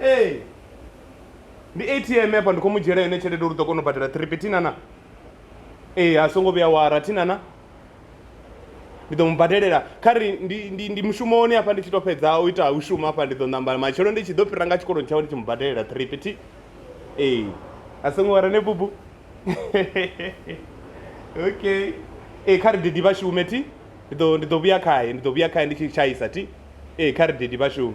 ee ndi atm hafha ndi khou mu dzhiela yone tshelede uri u ḓo kona u badela tripi thinana ee a songo vhuya wara thinana ndi ḓo mu badelela kha ri ndi, ndi, ndi mushumoni hafha ndi tshi tou fhedza u ita u shuma hafha ndi ḓo ṋamba matshelo ndi tshi ḓo fhira nga tshikoloni tshawe ndi tshi mu badelela tripi thi ee a songo wara ne bubu okay ee kha ri didi vha shume thi ndi ḓo ndi ḓo vhuya khaye ndi ḓo vhuya khaye ndi tshi tshaisa thi ee kha ri didi vha shume